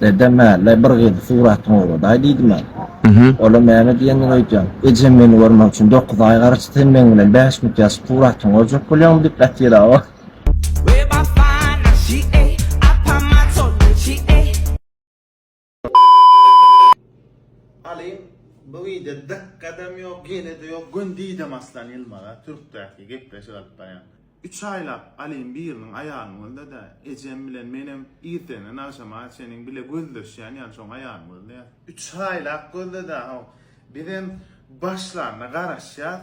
Dedem Ällä bir gyzy suratyňy ugraday diýdimä. Olam näme diýenini öýdýän. Ejem meni görmek üçin dokuz aý garaşdy, sen meň bilen bäş minut ýaşyp suratyňy görjek bolýaňmy diýip gatyra-ow. Alyň bu wideo dykgadam ýok ýelede ýok göndiýdem aslan ýylmaza türkdäki gepleşik alyp barýan. Üç aýlap Alyň biriniň aýalyny gözle dä, ejem bilen menem irtenden agşama çeniň bile gözleşýän ýaly şoň aýalyny gözleýäs. Üç aýlap gözle dä, haw, bizem başlanda garaşýas,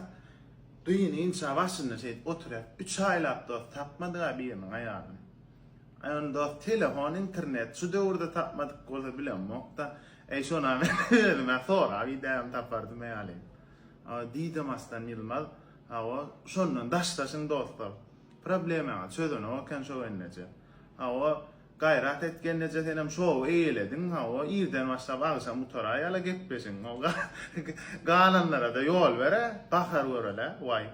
gyny inçä başynda şeýdip oturýas. Üç aýlap dos tapmadyk-a biriniň aýalyny. Aý ony dos telefon, internet şu döwürde tapmadyk bolsa bilemok-da. Äý şona men özüm-ä sorap idäýem tapardym-eý Alyň. Diýdi mastan Ýylmaz. Hawa, şondan daşlaşyň dostlar. Problemaňy çözenok eken şo gelneje. Hawa, gaýrat et gelneje senem şowy eýelediň, hawa, irden başlap agşam gutara ýala gepleşiň. Galanlarada ýol ber-ä, gahar görel-ä, waý.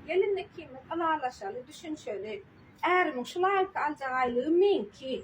Gelin ikimiz ylalaşaly, düşünişeli. Ärimiň şu laýyk aljak aýlygy meňki.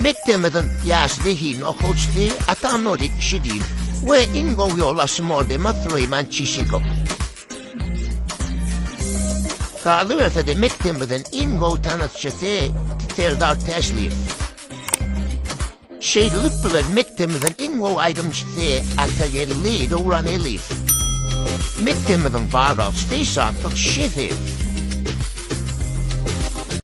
Mekdebimizin ýaş zehinli okuwçysy Atanuri Kişigin we iň gowy ýolbaşçy mordema Suleýman Çişikow. Galyberse-de, mekdebimiziň iň gowy tanyşçysy Serdar Täşliýew. Şeýdilip bilen mekdebimiziň iň gowy aýdymçysy Atageldi Döwraneliýew. Mekdebimiziň barlagçysy Şantyk Şeseýew.